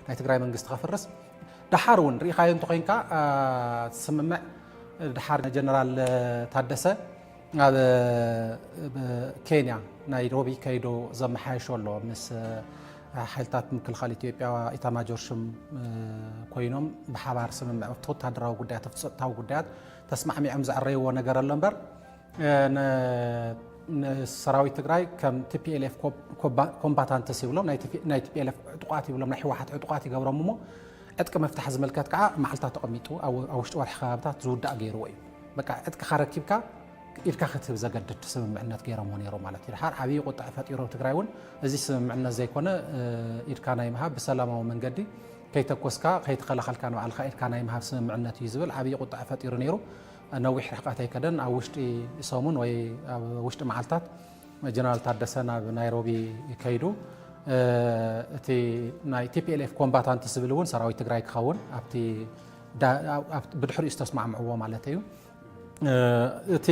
ናይ ትግራይ መንግስቲ ከፍርስ ደሓር እውን ርኢኻዮ እንተኮይንካ ስምምዕ ደሓር ጀነራል ታደሰ ኣብ ኬንያ ናይሮቢ ከይዶ ዘመሓየሾ ኣሎ ምስ ሓይልታት ምክልኻል ኢትዮጵያ ኢታማጆር ሹም ኮይኖም ብሓባር ስምምዕ ወታደራዊ ጉዳያት ጸጥታዊ ጉዳያት ተስማዕሚዖም ዘዕረይዎ ነገር ኣሎ እምበር ንሰራዊት ትግራይ ከም ቲፒኤልኤፍ ኮምባታንትስ ይብሎም ናይ ቲፒኤልኤፍ ዕጡቋት ይብሎም ናይ ህወሓት ዕጡቋት ይገብሮም እሞ ዕጥቂ ምፍታሕ ዝምልከት ከዓ መዓልታት ተቐሚጡ ኣብ ውሽጢ ወርሒ ከባብታት ዝውዳእ ገይርዎ እዩ በቃ ዕጥቅኻ ረኪብካ ኢድካ ክትህብ ዘገድድ ስምምዕነት ገይሮምዎ ነይሮ ማለት እዩ ድሓር ዓብዪ ቁጥዐ ፈጢሮ ትግራይ እውን እዚ ስምምዕነት ዘይኮነ ኢድካ ናይ ምሃብ ብሰላማዊ መንገዲ ከይተኮስካ ከይተኸላኸልካ ንባዕልካ ኢድካ ናይ ምሃብ ስምምዕነት እዩ ዝብል ዓብዪ ቁጥዐ ፈጢሩ ነይሩ። ነዊሕ ርሕቐት ኣይከደን ኣብ ውሽጢ ሰሙን ወይ ኣብ ውሽጢ መዓልታት ጀነራል ታደሰ ናብ ናይሮቢ ከይዱ እቲ ናይ ቲፒኤልኤፍ ኮምባታንት ዝብል እውን ሰራዊት ትግራይ ክኸውን ኣብቲ ብድሕሪኡ ዝተስማዕምዕዎ ማለት እዩ እቲ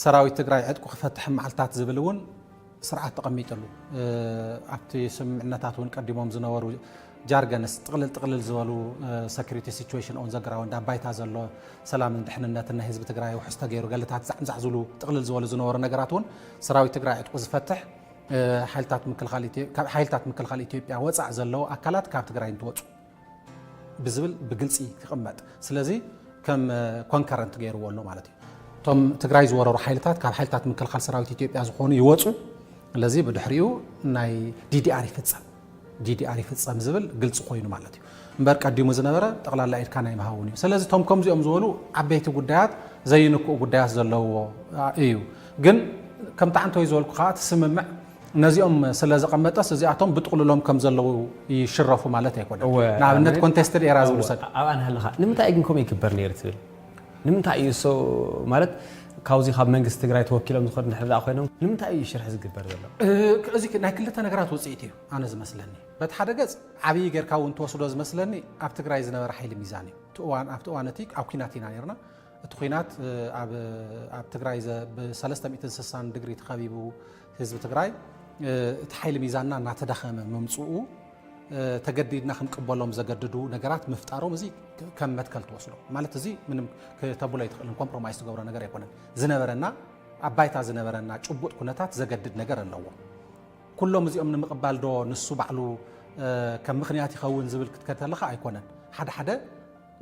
ሰራዊት ትግራይ ዕጥቁ ክፈትሕ መዓልታት ዝብል እውን ስርዓት ተቐሚጥሉ ኣብቲ ስምምዕነታት እውን ቀዲሞም ዝነበሩ ጃርገንስ ጥቕልል ጥቕልል ዝበሉ ሰኪሪቲ ሲቹዌሽን ኦን ዘግራውንድ ኣብ ባይታ ዘሎ ሰላምን ድሕንነትን ናይ ህዝቢ ትግራይ ውሕስ ተገይሩ ገልታት ዛዕምዛዕ ዝብሉ ጥቕልል ዝበሉ ዝነበሩ ነገራት እውን ሰራዊት ትግራይ ዕጥቁ ዝፈትሕ ሓይልታት ምክልኻል ኢትዮጵያ ወፃእ ዘለዉ ኣካላት ካብ ትግራይ እንትወፁ ብዝብል ብግልፂ ክቕመጥ ስለዚ ከም ኮንከረንት ገይርዎ ኣሎ ማለት እዩ። እቶም ትግራይ ዝወረሩ ሓይልታት ካብ ሓይልታት ምክልኻል ሰራዊት ኢትዮጵያ ዝኾኑ ይወፁ፣ ስለዚ ብድሕሪኡ ናይ ዲዲኣር ይፍፀም ዲዲኣር ይፍፀም ዝብል ግልፂ ኮይኑ ማለት እዩ እምበር ቀዲሙ ዝነበረ ጠቕላላ ኢድካ ናይ ምሃውን እዩ። ስለዚ እቶም ከምዚኦም ዝበሉ ዓበይቲ ጉዳያት ዘይንክኡ ጉዳያት ዘለዎ እዩ። ግን ከምቲ ዓንተወይ ዝበልኩ ከዓ እቲ ስምምዕ ነዚኦም ስለ ዘቐመጠስ እዚኣቶም ብጥቕሉሎም ከም ዘለዉ ይሽረፉ ማለት ኣይኮነን። እወ ንኣብነት ኣነ ኮንቴስትድ ኤራ እወ ዝውሰድ ኣብኣ ንሃለኻ ንምንታይ እዩ ግን ከምኡ ይግበር ነይሩ ትብል? ንምንታይ እዩ እሶ ማለት ካብዚ ካብ መንግስቲ ትግራይ ተወኪሎም ዝኸዱ እንድሕር ደኣ ኮይኖም ንምንታይ እዩ ሽርሒ ዝግበር ዘሎ? እ፣ እዚ ናይ ክልተ ነገራት ውጽኢት እዩ ኣነ ዝመስለኒ። በቲ ሓደ ገጽ ዓብዪ ጌርካ እውን ትወስዶ ዝመስለኒ ኣብ ትግራይ ዝነበረ ሓይሊ ሚዛን እዩ። እቲ እዋን ኣብቲ እዋን እቲ ኣብ ኲናት ኢና ነይርና። እቲ ኩናት ኣብ ትግራይ ብሰለስተ ሚእትን ስሳን ድግሪ ተኸቢቡ ህዝቢ ትግራይ እቲ ሓይሊ ሚዛንና እናተዳኸመ ምምፅኡ ተገዲድና ክንቅበሎም ዘገድዱ ነገራት ምፍጣሮም እዚ ከም መትከል ትወስዶ ማለት እዚ ምንም ክተብሎ ኣይትኽእልን ኮምፕሮማይዝ ትገብሮ ነገር ኣይኮነን ዝነበረና ኣብ ባይታ ዝነበረና ጭቡጥ ኩነታት ዘገድድ ነገር ኣለዎ ኩሎም እዚኦም ንምቕባል ዶ ንሱ ባዕሉ ከም ምክንያት ይኸውን ዝብል ክትከተለኻ ኣይኮነን ሓደ ሓደ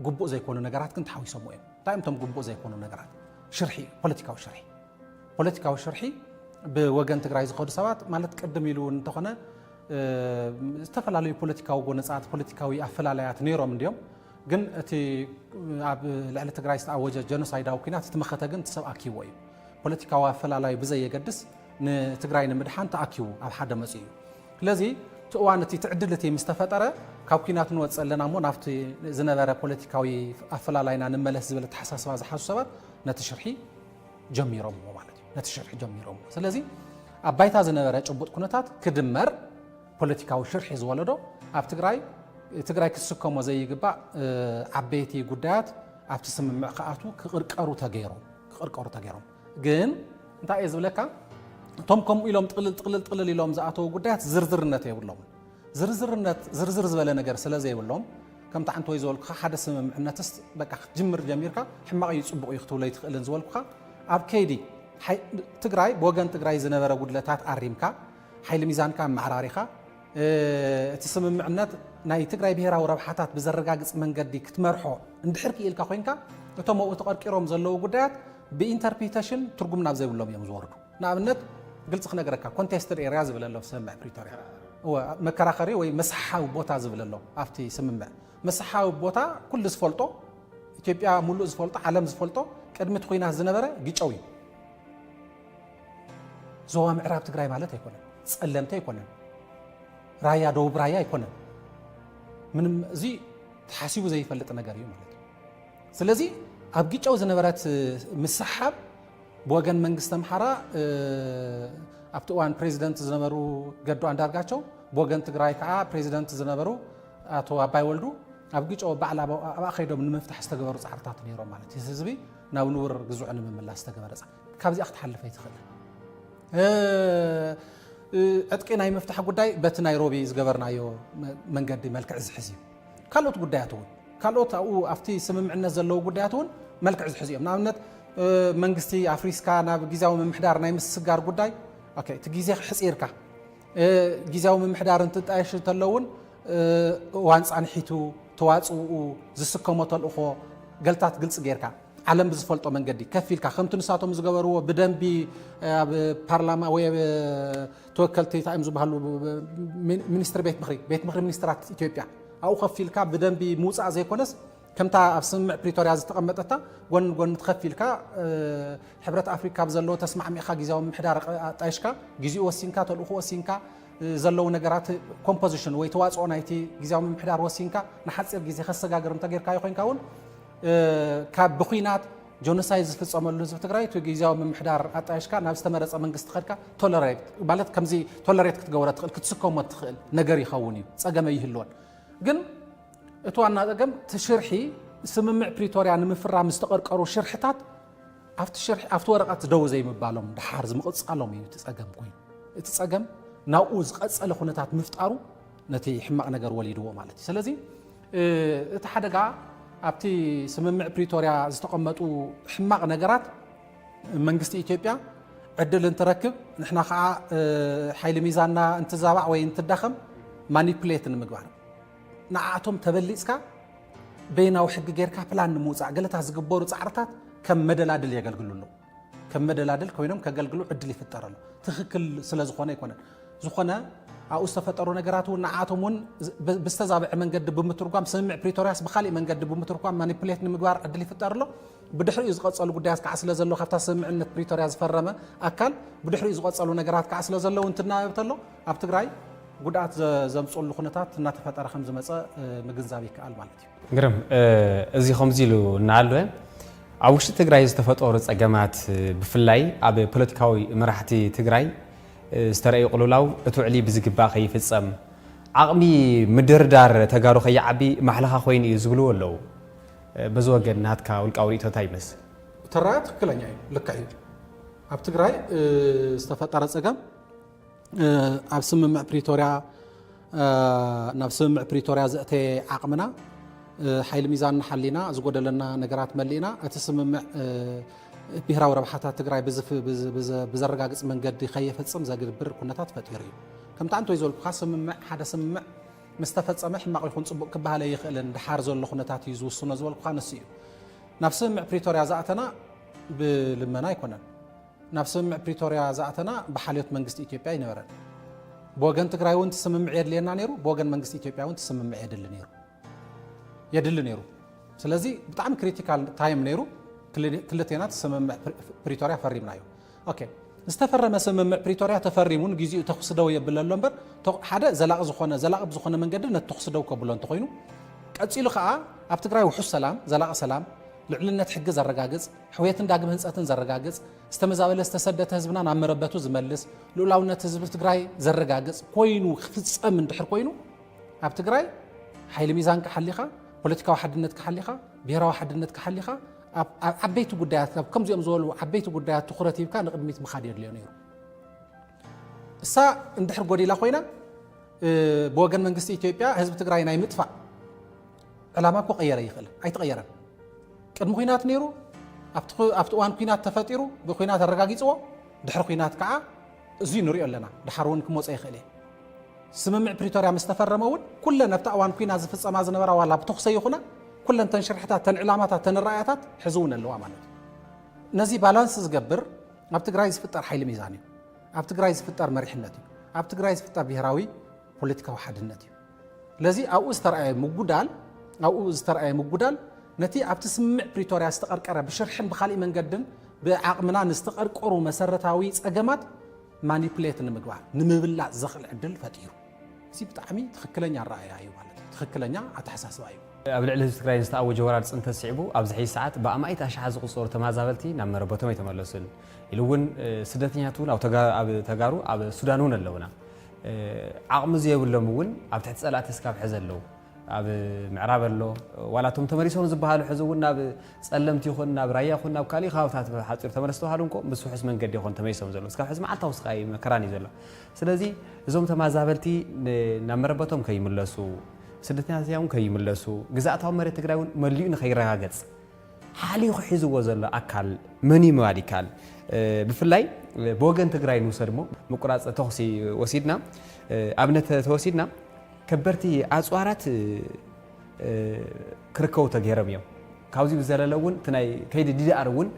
ግቡእ ዘይኮኑ ነገራት ግን ተሓዊሶምዎ እዮም። እንታይ እዮም እቶም ግቡእ ዘይኮኑ ነገራት? ሽርሒ እዩ፣ ፖለቲካዊ ሽርሒ። ፖለቲካዊ ሽርሒ ብወገን ትግራይ ዝኸዱ ሰባት ማለት ቅድም ኢሉ እውን እንተኾነ ዝተፈላለዩ ፖለቲካዊ ጎነፃት፣ ፖለቲካዊ ኣፈላላያት ነይሮም እንዲዮም። ግን እቲ ኣብ ልዕሊ ትግራይ ዝተኣወጀ ጀኖሳይዳዊ ኩናት እቲ መኸተ ግን እቲ ሰብ ኣኪዎ እዩ። ፖለቲካዊ ኣፈላላይ ብዘየገድስ ንትግራይ ንምድሓን ተኣኪቡ ኣብ ሓደ መፅኡ እዩ። ስለዚ እቲ እዋን እቲ እቲ ዕድል እቲ ምስ ተፈጠረ ካብ ኲናት ንወጽእ ኣለና እሞ ናብቲ ዝነበረ ፖለቲካዊ ኣፈላላይና ንመለስ ዝብል ኣተሓሳስባ ዝሓዙ ሰባት ነቲ ሽርሒ ጀሚሮምዎ ማለት እዩ። ነቲ ሽርሒ ጀሚሮምዎ። ስለዚ ኣብ ባይታ ዝነበረ ጭቡጥ ኩነታት ክድመር ፖለቲካዊ ሽርሒ ዝወለዶ ኣብ ትግራይ ትግራይ ክትስከሞ ዘይግባእ እ፣ ዓበይቲ ጉዳያት ኣብቲ ስምምዕ ክኣትዉ ክቕርቀሩ ተገይሮም ክቕርቀሩ ተገይሮም ግን እንታይ እየ ዝብለካ እቶም ከምኡ ኢሎም ጥቅልል ጥቅልል ጥቅልል ኢሎም ዝኣተዉ ጉዳያት ዝርዝርነት የብሎምን ዝርዝርነት ዝርዝር ዝበለ ነገር ስለ ዘይብሎም ከምቲ ሓንቲ ወይ ዝበልኩኻ ሓደ ስምምዕነትስ በቃ ክትጅምር ጀሚርካ ሕማቕ እዩ ፅቡቕ እዩ ክትብሎ ይትኽእልን ዝበልኩኻ ኣብ ከይዲ ትግራይ ብወገን ትግራይ ዝነበረ ጉድለታት ኣሪምካ ሓይሊ ሚዛንካ ኣመዓራሪኻ እቲ ስምምዕነት ናይ ትግራይ ብሄራዊ ረብሓታት ብዘረጋግፅ መንገዲ ክትመርሖ እንድሕር ክኢልካ ኮይንካ እቶም ኣብኡ ተቐርቂሮም ዘለዉ ጉዳያት ብኢንተርፕሪተሽን ትርጉም ናብ ዘይብሎም እዮም ዝወርዱ ንኣብነት ግልፂ ክነገረካ ኮንቴስትድ ኤርያ ዝብል ኣሎ ስምምዕ ፕሪቶርያ መከራኸሪ ወይ መስሓዊ ቦታ ዝብል ኣሎ ኣብቲ ስምምዕ መስሓዊ ቦታ ኩሉ ዝፈልጦ ኢትዮጵያ ሙሉእ ዝፈልጦ ዓለም ዝፈልጦ ቅድሚ እቲ ኩናት ዝነበረ ግጨው እዩ ዞባ ምዕራብ ትግራይ ማለት ኣይኮነን፣ ጸለምቲ ኣይኮነን፣ ራያ ደቡብ ራያ ኣይኮነን። ምንም እዚ ተሓሲቡ ዘይፈልጥ ነገር እዩ ማለት እዩ። ስለዚ ኣብ ግጨው ዝነበረት ምስሓብ ብወገን መንግስቲ ኣምሓራ ኣብቲ እዋን ፕሬዚደንት ዝነበሩ ገዱ ኣንዳርጋቸው ብወገን ትግራይ ከዓ ፕሬዚደንት ዝነበሩ ኣቶ ኣባይ ወልዱ ኣብ ግጨው ባዕላ ኣብኣ ከይዶም ንምፍታሕ ዝተገበሩ ፃዕርታት ነይሮም ማለት እዩ። ህዝቢ ናብ ንቡር ግዝዑ ንምምላስ ዝተገበረ ፃዕሪ ካብዚኣ ክትሓልፍ ኣይትኽእልን። ዕጥቂ ናይ ምፍታሕ ጉዳይ በቲ ናይሮቢ ዝገበርናዮ መንገዲ መልክዕ ዝሕዝ እዩ። ካልኦት ጉዳያት እውን ካልኦት ኣብኡ ኣብቲ ስምምዕነት ዘለዉ ጉዳያት እውን መልክዕ ዝሕዙ እዮም ንኣብነት መንግስቲ ኣፍሪስካ ናብ ግዜያዊ ምምሕዳር ናይ ምስስጋር ጉዳይ እቲ ግዜ ሕፂርካ ግዜያዊ ምምሕዳር እንትጣየሽ እንተሎ እውን እዋን ፃንሒቱ ተዋፅኡ ዝስከሞ ተልእኾ ገልታት ግልፂ ጌርካ ዓለም ብዝፈልጦ መንገዲ ከፍ ኢልካ ከምቲ ንሳቶም ዝገበርዎ ብደንቢ ኣብ ፓርላማ ወይ ኣብ ተወከልቲ እንታይ እዮም ዝበሃሉ ሚኒስትሪ ቤት ምክሪ ቤት ምክሪ ሚኒስትራት ኢትዮጵያ ኣብኡ ከፍ ኢልካ ብደንቢ ምውፃእ ዘይኮነስ ከምታ ኣብ ስምምዕ ፕሪቶርያ ዝተቐመጠታ ጎን ጎን ትኸፍ ኢልካ ሕብረት ኣፍሪካ ኣብ ዘለዎ ተስማዕሚዕካ ግዜያዊ ምሕዳር ኣጣይሽካ ግዜኡ ወሲንካ ተልእኹ ወሲንካ ዘለዉ ነገራት ኮምፖዚሽን ወይ ተዋፅኦ ናይቲ ግዜያዊ ምሕዳር ወሲንካ ንሓፂር ግዜ ከሰጋግር እንተጌርካዮ ኮይንካ እውን ካብ ብኩናት ጆኖሳይድ ዝፍፀመሉ ህዝቢ ትግራይ እቲ ግዜያዊ ምምሕዳር ኣጣየሽካ ናብ ዝተመረፀ መንግስቲ ከድካ ቶለሬት ማለት ከምዚ ቶለሬት ክትገብሮ ትኽእል ክትስከሞ ትኽእል ነገር ይኸውን እዩ ፀገም ኣይህልዎን ግን እቲ ዋና ፀገም እቲ ሽርሒ ስምምዕ ፕሪቶርያ ንምፍራም ዝተቐርቀሩ ሽርሕታት ኣብቲ ሽርሒ ኣብቲ ወረቐት ደው ዘይምባሎም ድሓር ዝምቕፃሎም እዩ እቲ ፀገም ኮይኑ እቲ ፀገም ናብኡ ዝቐፀለ ኩነታት ምፍጣሩ ነቲ ሕማቕ ነገር ወሊድዎ ማለት እዩ። ሰለዚ እቲ ሓደጋ ኣብቲ ስምምዕ ፕሪቶርያ ዝተቐመጡ ሕማቕ ነገራት መንግስቲ ኢትዮጵያ ዕድል እንትረክብ ንሕና ከዓ ሓይሊ ሚዛንና እንትዛባዕ ወይ እንትዳኸም ማኒፕሌት ንምግባር ንዓኣቶም ተበሊፅካ በይናዊ ሕጊ ጌርካ ፕላን ንምውፃእ ገለታት ዝግበሩ ፃዕርታት ከም መደላድል የገልግሉ ኣለዉ። ከም መደላድል ኮይኖም ከገልግሉ ዕድል ይፍጠረሉ ትክክል ስለዝኾነ ኣይኮነን ዝኾነ ኣብኡ ዝተፈጠሩ ነገራት እውን ንዓቶም እውን ብዝተዛብዐ መንገዲ ብምትርጓም ስምምዕ ፕሪቶርያስ ብካሊእ መንገዲ ብምትርጓም ማኒፕሌት ንምግባር ዕድል ይፍጠር ኣሎ ብድሕሪኡ ዝቐፀሉ ጉዳያት ከዓ ስለ ዘሎ ካብታ ስምምዕነት ፕሪቶርያ ዝፈረመ ኣካል ብድሕሪኡ ዝቐፀሉ ነገራት ከዓ ስለ ዘለዉ እንትናበብ ተሎ ኣብ ትግራይ ጉድኣት ዘምፅሉ ኩነታት እናተፈጠረ ከም ዝመፀ ምግንዛብ ይከኣል ማለት እዩ ግርም እዚ ከምዚ ኢሉ እናሃለወ ኣብ ውሽጢ ትግራይ ዝተፈጠሩ ፀገማት ብፍላይ ኣብ ፖለቲካዊ መራሕቲ ትግራይ ዝተረእዩ ቅልውላው እቲ ውዕሊ ብዝግባእ ከይፍፀም ዓቕሚ ምድርዳር ተጋሩ ከይዓቢ ማሕለኻ ኮይኑ እዩ ዝብልዎ ኣለዉ። በዚ ወገን ናትካ ውልቃዊ ርእይቶ እንታይ ይመስል? እቲ ኣረኣእያ ትክክለኛ እዩ፣ ልክዕ እዩ። ኣብ ትግራይ ዝተፈጠረ ፀገም ኣብ ስምምዕ ፕሪቶርያ ናብ ስምምዕ ፕሪቶርያ ዘእተየ ዓቕምና ሓይሊ ሚዛንና ሓሊና ዝጎደለና ነገራት መሊእና እቲ ስምምዕ ብሄራዊ ረብሓታት ትግራይ ብዘረጋግፅ መንገዲ ከየፈፅም ዘግብር ኩነታት ፈጢሩ እዩ ከምቲ ኣንቶይ ዘልኩካ ስምምዕ ሓደ ስምምዕ ምስ ተፈፀመ ሕማቕ ይኹን ፅቡቕ ክበሃል ኣይኽእልን ድሓር ዘሎ ኩነታት እዩ ዝውስኖ ዝበልኩካ ንሱ እዩ ናብ ስምምዕ ፕሪቶርያ ዝኣተና ብልመና ኣይኮነን ናብ ስምምዕ ፕሪቶርያ ዝኣተና ብሓልዮት መንግስቲ ኢትዮጵያ ኣይነበረን። ብወገን ትግራይ እውን ትስምምዕ የድልየና ነይሩ፣ ብወገን መንግስቲ ኢትዮጵያ እውን ትስምምዕ የድሊ ነይሩ የድሊ ነይሩ። ስለዚ ብጣዕሚ ክሪቲካል ታይም ነይሩ። ክልቴና ትስምምዕ ፕሪቶርያ ፈሪምና እዩ። ኦኬ ዝተፈረመ ስምምዕ ፕሪቶርያ ተፈሪሙ ንግዜኡ ተኹሲ ደው የብለ ኣሎ እምበር ሓደ ዘላቂ ዝኾነ ዘላቂ ብዝኾነ መንገዲ ነቲ ተኹሲ ደው ከብሎ እንተኾይኑ ቀፂሉ ከዓ ኣብ ትግራይ ውሑስ ሰላም ዘላቂ ሰላም ልዕልነት ሕጊ ዘረጋግፅ ሕውየትን ዳግም ህንፀትን ዘረጋግፅ፣ ዝተመዛበለ ዝተሰደተ ህዝብና ናብ መረበቱ ዝመልስ፣ ልኡላውነት ህዝቢ ትግራይ ዘረጋግፅ ኮይኑ ክፍፀም እንድሕር ኮይኑ ኣብ ትግራይ ሓይሊ ሚዛንካ ሓሊኻ፣ ፖለቲካዊ ሓድነትካ ሓሊኻ፣ ብሔራዊ ሓድነትካ ሓሊኻ ኣብ ዓበይቲ ጉዳያት ኣብ ከምዚኦም ዝበሉ ዓበይቲ ጉዳያት ትኩረት ሂብካ ንቅድሚት ምኻድ የድልዮ ነይሩ እሳ እንድሕር ጎዲላ ኮይና ብወገን መንግስቲ ኢትዮጵያ ህዝቢ ትግራይ ናይ ምጥፋእ ዕላማ ክቐየረ ይኽእል ኣይተቐየረን ቅድሚ ኩናት ነይሩ ኣብቲ እዋን ኩናት ተፈጢሩ ብኩናት ኣረጋጊፅዎ ድሕሪ ኩናት ከዓ እዙይ ንሪኦ ኣለና ድሓር እውን ክመፀ ይኽእል እየ ስምምዕ ፕሪቶርያ ምስ ተፈረመ እውን ኩለን ኣብታ እዋን ኩናት ዝፍፀማ ዝነበራ ዋላ ብተኹሰ ይኹና ኩለን ተን ሽርሕታት ተን ዕላማታት ተን ራእያታት ሕዚ እውን ኣለዋ ማለት እዩ ነዚ ባላንስ ዝገብር ኣብ ትግራይ ዝፍጠር ሓይሊ ሚዛን እዩ ኣብ ትግራይ ዝፍጠር መሪሕነት እዩ ኣብ ትግራይ ዝፍጠር ብሄራዊ ፖለቲካዊ ሓድነት እዩ ስለዚ ኣብኡ ዝተርኣየ ምጉዳል ኣብኡ ዝተርኣየ ምጉዳል ነቲ ኣብቲ ስምምዕ ፕሪቶርያ ዝተቐርቀረ ብሽርሕን ብካሊእ መንገድን ብዓቕምና ንዝተቐርቀሩ መሰረታዊ ፀገማት ማኒፕሌት ንምግባር ንምብላፅ ዘኽእል ዕድል ፈጢሩ እዚ ብጣዕሚ ትኽክለኛ ኣረኣእያ እዩ ማለት እዩ ትኽክለኛ ኣተሓሳስባ እዩ ኣብ ልዕሊ ህዝቢ ትግራይ ዝተኣወጀ ወራር ፅንተት ስዒቡ ኣብዚ ሕዚ ሰዓት ብኣማኢት ኣሽሓት ዝቑፀሩ ተመዛበልቲ ናብ መረበቶም ኣይተመለሱን ኢሉ እውን ስደተኛት እውን ኣብ ተጋሩ ኣብ ሱዳን እውን ኣለውና ዓቕሚ ዘየብሎም እውን ኣብ ትሕቲ ጸላእቲ እስካብ ሕዚ ኣለዉ። ኣብ ምዕራብ ኣሎ ዋላ እቶም ተመሊሶም ዝበሃሉ ሕዚ እውን ናብ ጸለምቲ ይኹን ናብ ራያ ይኹን ናብ ካልእ ከባብታት ሓጺሩ ተመለስ ተባሃሉ እንኮ ምስ ውሑስ መንገዲ ይኹን ተመሊሶም ዘለዉ እስካብ ሕዚ መዓልታዊ ስቃይ መከራን እዩ ዘሎ። ስለዚ እዞም ተማዛበልቲ ናብ መረበቶም ከይምለሱ ስደተኛታት እዮም ከይምለሱ ግዝኣታዊ መሬት ትግራይ እውን መሊኡ ንከይረጋገጽ ሓሊኹ ሒዝዎ ዘሎ ኣካል መንዩ ምባል ይከኣል። ብፍላይ ብወገን ትግራይ ንውሰድሞ ምቁራፅ ተኹሲ ወሲድና ኣብነት ተወሲድና ከበድቲ ኣፅዋራት ክርከቡ ተገይሮም እዮም። ካብዚ ብዘለለ እውን እቲ ናይ ከይዲ ዲዲኣር እውን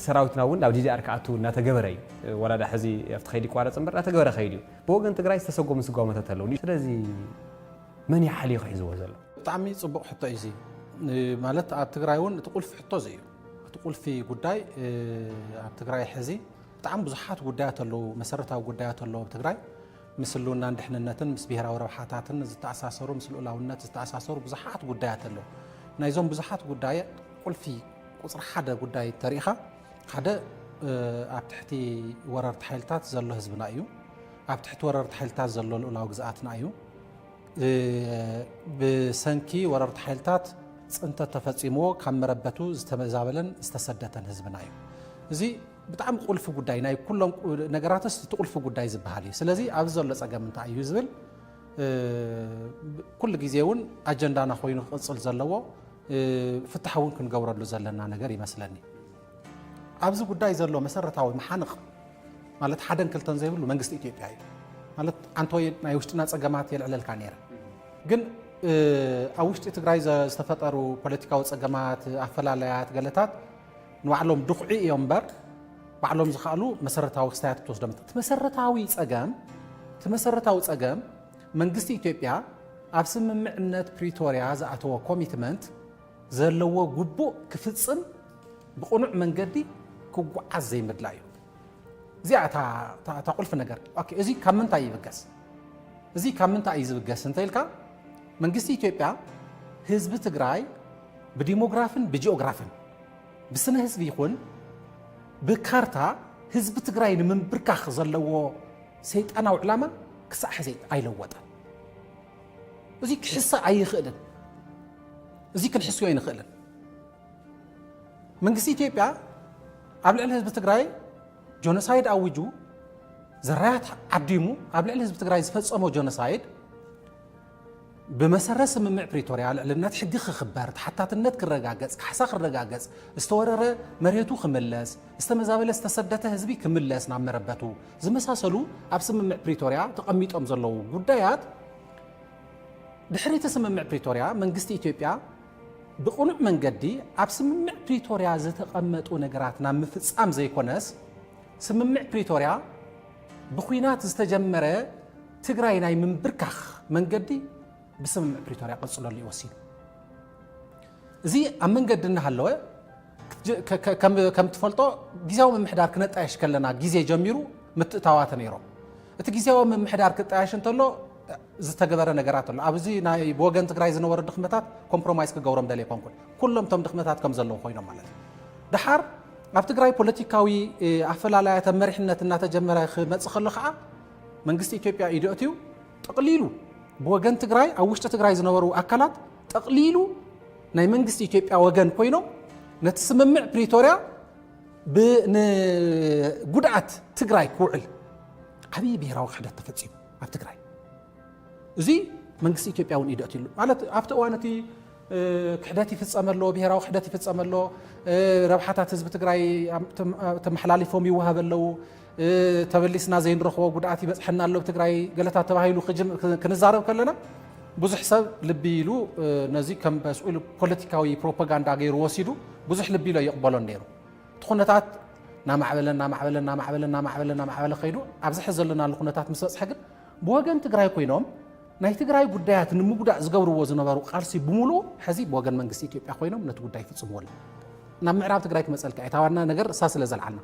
ሰራዊትና እውን ናብ ዲዲኣር ክኣቱ እናተገበረ እዩ። ወላዳ ሕዚ ኣብቲ ከይዲ ይቋረፅ እምበር እናተገበረ ከይዱ እዩ። ብወገን ትግራይ ዝተሰጎሙ ስጓሞታት ኣለዉ። ስለዚ መን እዩ ሓሊኹ ሒዝዎ ዘሎ? ብጣዕሚ ፅቡቕ ሕቶ እዩ እዚ ማለት ኣብ ትግራይ እውን እቲ ቁልፊ ሕቶ እዚ እዩ እቲ ቁልፊ ጉዳይ ኣብ ትግራይ ሕዚ ብጣዕሚ ብዙሓት ጉዳያት ኣለዉ መሰረታዊ ጉዳያት ኣለዉ ኣብ ትግራይ ምስ ህልውናን ድሕንነትን ምስ ብሄራዊ ረብሓታትን ዝተኣሳሰሩ ምስ ልኡላውነት ዝተኣሳሰሩ ብዙሓት ጉዳያት ኣለዉ ናይዞም ብዙሓት ጉዳይ ቁልፊ ቁፅሪ ሓደ ጉዳይ ተሪኢኻ ሓደ ኣብ ትሕቲ ወረርቲ ሓይልታት ዘሎ ህዝብና እዩ ኣብ ትሕቲ ወረርቲ ሓይልታት ዘሎ ልኡላዊ ግዝኣትና እዩ ብሰንኪ ወረርቲ ሓይልታት ፅንተት ተፈፂምዎ ካብ መረበቱ ዝተመዛበለን ዝተሰደተን ህዝብና እዩ እዚ ብጣዕሚ ቁልፊ ጉዳይ ናይ ኩሎም ነገራትስ እቲ ቁልፊ ጉዳይ ዝበሃል እዩ ስለዚ ኣብዚ ዘሎ ፀገም እንታይ እዩ ዝብል ኩሉ ግዜ እውን ኣጀንዳና ኮይኑ ክቕፅል ዘለዎ ፍትሓ እውን ክንገብረሉ ዘለና ነገር ይመስለኒ ኣብዚ ጉዳይ ዘሎ መሰረታዊ መሓንቕ ማለት ሓደን ክልተን ዘይብሉ መንግስቲ ኢትዮጵያ እዩ ማለት ኣንቶይ ናይ ውሽጥና ፀገማት የልዕለልካ ነይረ ግን ኣብ ውሽጢ ትግራይ ዝተፈጠሩ ፖለቲካዊ ፀገማት ኣፈላለያት ገለታት ንባዕሎም ድኹዒ እዮም እምበር ባዕሎም ዝኸኣሉ መሰረታዊ ክስታያት ትወስዶም እቲ መሰረታዊ ፀገም እቲ መሰረታዊ ፀገም መንግስቲ ኢትዮጵያ ኣብ ስምምዕነት ፕሪቶርያ ዝኣተዎ ኮሚትመንት ዘለዎ ጉቡእ ክፍጽም ብቕኑዕ መንገዲ ክጉዓዝ ዘይምድላዩ እዚኣ እታ ቁልፊ ነገር እዚ ካብ ምንታይ ይብገስ እዚ ካብ ምንታይ እዩ ዝብገስ እንተኢልካ መንግስቲ ኢትዮጵያ ህዝቢ ትግራይ ብዲሞግራፍን ብጂኦግራፍን ብስነ ህዝቢ ይኹን ብካርታ ህዝቢ ትግራይ ንምንብርካኽ ዘለዎ ሰይጣናዊ ዕላማ ክሳዕ ሕዚ ኣይለወጠን እዚ ክሕሰ ኣይኽእልን እዚ ክንሕስዮ ኣይንኽእልን። መንግስቲ ኢትዮጵያ ኣብ ልዕሊ ህዝቢ ትግራይ ጆኖሳይድ ኣዊጁ ዘራያት ዓዲሙ ኣብ ልዕሊ ህዝቢ ትግራይ ዝፈፀሞ ጆኖሳይድ ብመሰረት ስምምዕ ፕሪቶርያ ልዕልነት ሕጊ ክኽበር፣ ተሓታትነት ክረጋገፅ፣ ካሕሳ ክረጋገፅ፣ ዝተወረረ መሬቱ ክምለስ፣ ዝተመዛበለ ዝተሰደተ ህዝቢ ክምለስ ናብ መረበቱ፣ ዝመሳሰሉ ኣብ ስምምዕ ፕሪቶርያ ተቐሚጦም ዘለዉ ጉዳያት ድሕሪ እቲ ስምምዕ ፕሪቶርያ መንግስቲ ኢትዮጵያ ብቕኑዕ መንገዲ ኣብ ስምምዕ ፕሪቶርያ ዝተቐመጡ ነገራት ናብ ምፍፃም ዘይኮነስ ስምምዕ ፕሪቶርያ ብኩናት ዝተጀመረ ትግራይ ናይ ምንብርካኽ መንገዲ ብስምምዕ ፕሪቶርያ ቀፅለሉ እዩ ወሲኑ። እዚ ኣብ መንገዲ እናሃለወ ከም እትፈልጦ ግዜያዊ ምምሕዳር ክነጣየሽ ከለና ግዜ ጀሚሩ ምትእታዋት ነይሮም። እቲ ግዜያዊ ምምሕዳር ክጣየሽ እንተሎ ዝተገበረ ነገራት ኣሎ። ኣብዚ ናይ ብወገን ትግራይ ዝነበሩ ድኽመታት ኮምፕሮማይዝ ክገብሮም ደልየ ኮንኩን። ኩሎም እቶም ድኽመታት ከም ዘለዉ ኮይኖም ማለት እዩ። ድሓር ኣብ ትግራይ ፖለቲካዊ ኣፈላላያት ኣብ መሪሕነት እናተጀመረ ክመፅእ ከሎ ከዓ መንግስቲ ኢትዮጵያ ኢዱ ኣትዩ ጠቕሊሉ ብወገን ትግራይ ኣብ ውሽጢ ትግራይ ዝነበሩ ኣካላት ጠቕሊሉ ናይ መንግስቲ ኢትዮጵያ ወገን ኮይኖም ነቲ ስምምዕ ፕሪቶርያ ንጉድኣት ትግራይ ክውዕል ዓብዪ ብሄራዊ ክሕደት ተፈፂሙ ኣብ ትግራይ እዚ መንግስቲ ኢትዮጵያ እውን ኢዱ ኣትሉ ማለት ኣብቲ እዋን እቲ ክሕደት ይፍፀመ ኣሎ ብሄራዊ ክሕደት ይፍፀመ ኣሎ ረብሓታት ህዝቢ ትግራይ ተመሓላሊፎም ይወሃበ ኣለዉ ተበሊስና ዘይንረኽቦ ጉድኣት ይበፅሐና ኣሎ ኣብ ትግራይ ገለታት ተባሂሉ ክንዛረብ ከለና ብዙሕ ሰብ ልቢ ኢሉ ነዚ ከም በስኡ ኢሉ ፖለቲካዊ ፕሮፓጋንዳ ገይሩ ወሲዱ ብዙሕ ልቢ ኢሉ ይቕበሎን ነይሩ እቲ ኩነታት ናማዕበለ ናማዕበለ ናማዕበለ ናማዕበለ ናማዕበለ ከይዱ ኣብዚ ሕዚ ዘለናሉ ኩነታት ምስ በፅሐ ግን ብወገን ትግራይ ኮይኖም ናይ ትግራይ ጉዳያት ንምጉዳእ ዝገብርዎ ዝነበሩ ቃልሲ ብምሉኡ ሕዚ ብወገን መንግስቲ ኢትዮጵያ ኮይኖም ነቲ ጉዳይ ይፍፅምዎ ኣለዉ ናብ ምዕራብ ትግራይ ክመፀልካ እዩ እታ ዋና ነገር እሳ ስለ ዘልዓልና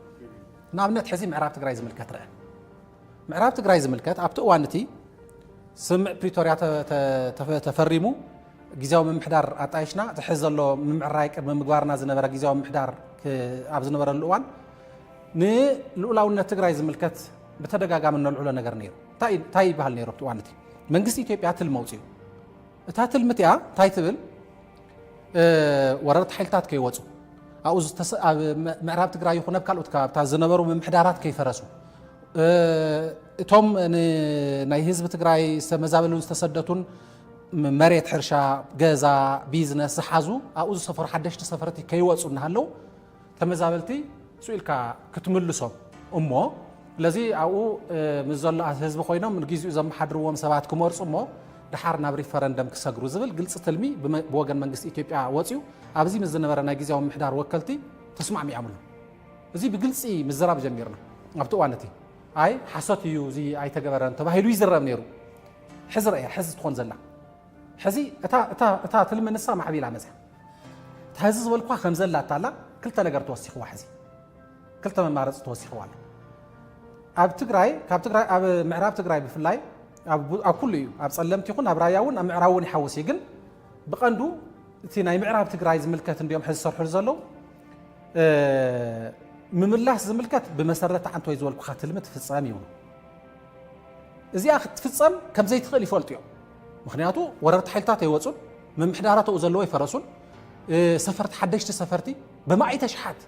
ንኣብነት ሕዚ ምዕራብ ትግራይ ዝምልከት ርኣ። ምዕራብ ትግራይ ዝምልከት ኣብቲ እዋን እቲ ስምምዕ ፕሪቶርያ ተፈሪሙ ግዜያዊ ምምሕዳር ኣጣይሽና እቲ ሕዚ ዘሎ ምምዕራይ ቅድሚ ምግባርና ዝነበረ ግዜያዊ ምምሕዳር ኣብ ዝነበረሉ እዋን ንልኡላውነት ትግራይ ዝምልከት ብተደጋጋሚ እነልዕሎ ነገር ነይሩ እንታይ ይበሃል ነይሩ ኣብቲ እዋን እቲ መንግስቲ ኢትዮጵያ ትልሚ ኣውፅኡ እታ ትልሚ እቲኣ እንታይ ትብል ወረርቲ ሓይልታት ከይወፁ ኣብኡ ኣብ ምዕራብ ትግራይ ይኹን ኣብ ካልኦት ከባብታት ዝነበሩ ምምሕዳራት ከይፈረሱ እቶም ናይ ህዝቢ ትግራይ ዝተመዛበሉን ዝተሰደቱን መሬት ሕርሻ፣ ገዛ፣ ቢዝነስ ዝሓዙ ኣብኡ ዝሰፈሩ ሓደሽቲ ሰፈርቲ ከይወፁ እናሃለው ተመዛበልቲ ሱእ ኢልካ ክትምልሶም እሞ ለዚ ኣብኡ ምስ ዘሎ ህዝቢ ኮይኖም ንጊዜኡ ዘመሓድርዎም ሰባት ክመርፁ እሞ ድሓር ናብ ሪፈረንደም ክሰግሩ ዝብል ግልፂ ትልሚ ብወገን መንግስቲ ኢትዮጵያ ወፅዩ ኣብዚ ምስ ዝነበረ ናይ ግዜያዊ ምሕዳር ወከልቲ ተስማዕሚዖምሉ እዚ ብግልፂ ምዝራብ ጀሚርና ኣብቲ እዋን እቲ ኣይ ሓሶት እዩ እዚ ኣይተገበረን ተባሂሉ ይዝረብ ነይሩ ሕዚ ረእያ ሕዚ ትኾን ዘላ ሕዚ እታ ትልሚ ንሳ ማዕቢላ መፅያ ሐዚ ዝበልኩኻ ከምዘላታላ ክልተ ነገር ተወሲኽዋ ሐዚ ክልተ መማረፂ ተወሲኽዋ ኣሎ ኣብ ትግራይ ካብ ትግራይ ኣብ ምዕራብ ትግራይ ብፍላይ ኣብ ኩሉ እዩ ኣብ ፀለምቲ ይኹን ኣብ ራያ እውን ኣብ ምዕራብ እውን ይሓውስ እዩ ግን ብቐንዱ እቲ ናይ ምዕራብ ትግራይ ዝምልከት እንዲኦም ሕዚ ዝሰርሕሉ ዘለዉ ምምላስ ዝምልከት ብመሰረት ዓንተ ወይ ዝበልኩኻ ትልሚ ትፍፀም ይብሉ እዚኣ ክትፍፀም ከምዘይትኽእል ይፈልጡ እዮም ምኽንያቱ ወረርቲ ሓይልታት ኣይወፁን፣ ምምሕዳራት ኣብኡ ዘለዎ ኣይፈረሱን፣ ሰፈርቲ ሓደሽቲ ሰፈርቲ ብማኢተ ሽሓት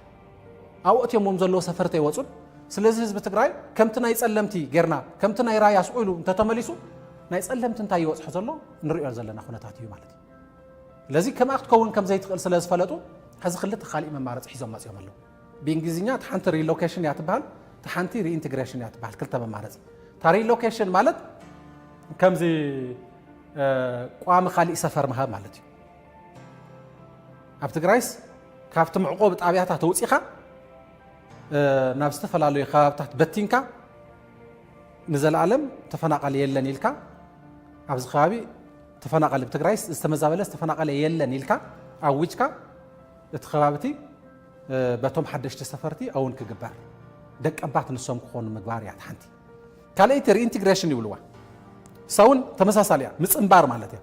ኣብኡ ኣእትዮሞም ዘለዎ ሰፈርቲ ኣይወፁን። ስለዚ ህዝቢ ትግራይ ከምቲ ናይ ፀለምቲ ጌርና ከምቲ ናይ ራያ ስቑ ኢሉ እንተተመሊሱ ናይ ፀለምቲ እንታይ ይበፅሖ ዘሎ ንሪኦ ዘለና ኩነታት እዩ ማለት እዩ። ስለዚ ከምኣ ክትከውን ከም ዘይትኽእል ስለ ዝፈለጡ ሕዚ ክልተ ካሊእ መማረፂ ሒዞም መፂኦም ኣለዉ። ብእንግሊዝኛ እታ ሓንቲ ሪሎኬሽን እያ ትበሃል፣ እታ ሓንቲ ሪኢንትግሬሽን እያ ትበሃል። ክልተ መማረፂ። እታ ሪሎኬሽን ማለት ከምዚ ቋሚ ካሊእ ሰፈር ምሃብ ማለት እዩ። ኣብ ትግራይስ ካብቲ መዕቆቢ ጣብያታት ወፂኻ ናብ ዝተፈላለዩ ከባብታት በቲንካ ንዘለኣለም ተፈናቃሊ የለን ኢልካ ኣብዚ ከባቢ ተፈናቃሊ ብትግራይስ ዝተመዛበለስ ተፈናቃሊ የለን ኢልካ ኣዊጅካ እቲ ከባቢ እቲ በቶም ሓደሽቲ ሰፈርቲ ኣውን ክግበር ደቀባት ንሶም ክኾኑ ምግባር እያ ሓንቲ ካልኣይቲ ሪኢንትግሬሽን ይብልዋ ሳውን ተመሳሳሊ እያ ምፅንባር ማለት እያ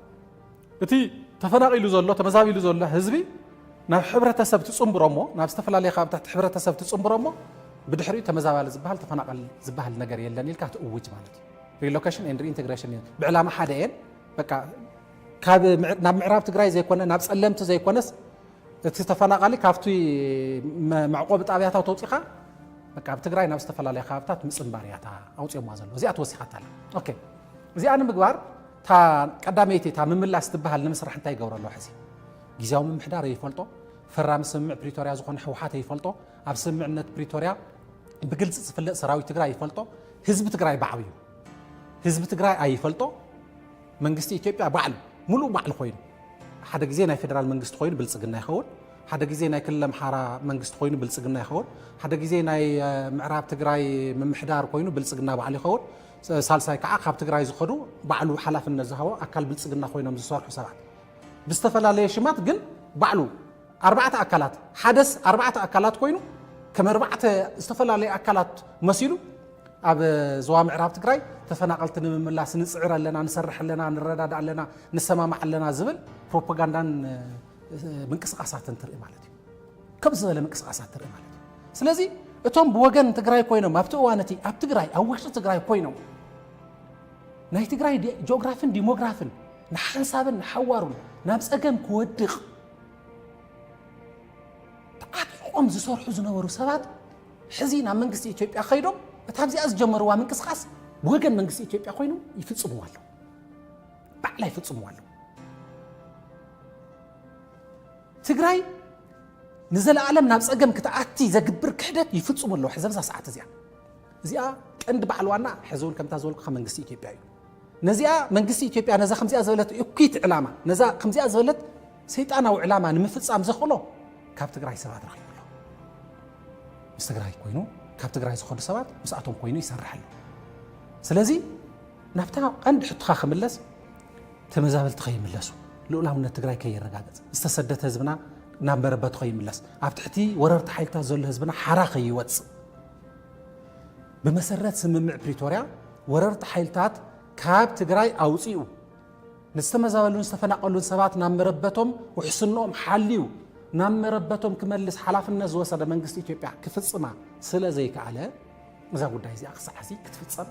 እቲ ተፈናቒሉ ዘሎ ተመዛቢሉ ዘሎ ህዝቢ ናብ ሕብረተሰብ ትፅንብሮ እሞ ናብ ዝተፈላለየ ካብታት ሕብረተሰብ ትፅንብሮ እሞ ብድሕሪኡ ተመዛባሊ ዝበሃል ተፈናቐል ዝበሃል ነገር የለን ኢልካ ትእውጅ ማለት እዩ ሪሎኬሽን ኤንድ ሪኢንቴግሬሽን እዩ ብዕላማ ሓደ እየን በቃ ካብ ናብ ምዕራብ ትግራይ ዘይኮነ ናብ ፀለምቲ ዘይኮነስ እቲ ተፈናቓሊ ካብቲ መዕቆቢ ጣብያታት ወፂኻ በቃ ኣብ ትግራይ ናብ ዝተፈላለያ ከባብታት ምፅንባር እያ እታ ኣውፅኦማ ዘለዉ እዚኣ ተወሲኻታ ኣላ ኦኬ እዚኣ ንምግባር እታ ቀዳመይቲ እታ ምምላስ ትበሃል ንምስራሕ እንታይ ይገብረ ኣለዎ ሕዚ ግዜያዊ ምምሕዳር ይፈልጦ ፈራሚ ስምምዕ ፕሪቶርያ ዝኾነ ህወሓት ይፈልጦ ኣብ ስምምዕነት ፕሪቶርያ ብግልፂ ዝፍለጥ ሰራዊት ትግራይ ይፈልጦ ህዝቢ ትግራይ ባዕብዩ ህዝቢ ትግራይ ኣይፈልጦ መንግስቲ ኢትዮጵያ ባዕሉ ሙሉእ ባዕሉ ኮይኑ ሓደ ግዜ ናይ ፌደራል መንግስቲ ኮይኑ ብልፅግና ይኸውን ሓደ ግዜ ናይ ክልል ኣምሓራ መንግስቲ ኮይኑ ብልፅግና ይኸውን ሓደ ግዜ ናይ ምዕራብ ትግራይ ምምሕዳር ኮይኑ ብልፅግና ባዕሉ ይኸውን ሳልሳይ ከዓ ካብ ትግራይ ዝኸዱ ባዕሉ ሓላፍነት ዝሃቦ ኣካል ብልፅግና ኮይኖም ዝሰርሑ ሰባት ብዝተፈላለየ ሽማት ግን ባዕሉ ኣርባዕተ ኣካላት፣ ሓደስ ኣርባዕተ ኣካላት ኮይኑ ከም ኣርባዕተ ዝተፈላለዩ ኣካላት መሲሉ ኣብ ዞባ ምዕራብ ትግራይ ተፈናቐልቲ ንምምላስ ንፅዕር ኣለና፣ ንሰርሕ ኣለና፣ ንረዳዳ ኣለና፣ ንሰማማዕ ኣለና ዝብል ፕሮፓጋንዳን ምንቅስቃሳትን ትርኢ ማለት እዩ። ከምዚ ዝበለ ምንቅስቃሳት ትርኢ ማለት እዩ። ስለዚ እቶም ብወገን ትግራይ ኮይኖም ኣብቲ እዋን እቲ ኣብ ትግራይ ኣብ ውሽጢ ትግራይ ኮይኖም ናይ ትግራይ ጂኦግራፍን ዲሞግራፍን ንሓንሳብን ንሓዋሩን ናብ ፀገም ክወድቕ ተዓጢቖም ዝሰርሑ ዝነበሩ ሰባት ሕዚ ናብ መንግስቲ ኢትዮጵያ ከይዶም እታ ኣብዚኣ ዝጀመርዋ ምንቅስቓስ ብወገን መንግስቲ ኢትዮጵያ ኮይኑ ይፍፅምዎ ኣለዉ ባዕላ ይፍፅምዎ ኣለዉ ትግራይ ንዘለኣለም ናብ ፀገም ክትኣቲ ዘግብር ክሕደት ይፍፅሙ ኣለዉ ሕዚ ኣብዛ ሰዓት እዚኣ እዚኣ ቀንዲ በዓል ዋና ሕዚ እውን ከምታ ዝበልኩ ካብ መንግስቲ ኢትዮጵያ እዩ ነዚኣ መንግስቲ ኢትዮጵያ ነዛ ከምዚኣ ዝበለት እኩይት ዕላማ ነዛ ከምዚኣ ዝበለት ሰይጣናዊ ዕላማ ንምፍጻም ዘኽእሎ ካብ ትግራይ ሰባት ረኺቡ ኣሎ። ምስ ትግራይ ኮይኑ ካብ ትግራይ ዝኸዱ ሰባት ምስኣቶም ኮይኑ ይሰርሕ ኣሎ። ስለዚ ናብታ ቀንዲ ሕቶኻ ክምለስ ተመዛበልቲ ከይምለሱ ልኡላውነት ትግራይ ከይረጋገጽ ዝተሰደተ ህዝብና ናብ መረበቱ ከይምለስ ኣብ ትሕቲ ወረርቲ ሓይልታት ዘሎ ህዝብና ሓራ ከይወጽእ ብመሰረት ስምምዕ ፕሪቶርያ ወረርቲ ሓይልታት ካብ ትግራይ ኣውፂኡ ንዝተመዛበሉን ዝተፈናቐሉን ሰባት ናብ መረበቶም ውሕስንኦም ሓልዩ ናብ መረበቶም ክመልስ ሓላፍነት ዝወሰደ መንግስቲ ኢትዮጵያ ክፍፅማ ስለ ዘይከኣለ እዛ ጉዳይ እዚኣ ክሳዕ ሕዚ ክትፍፀም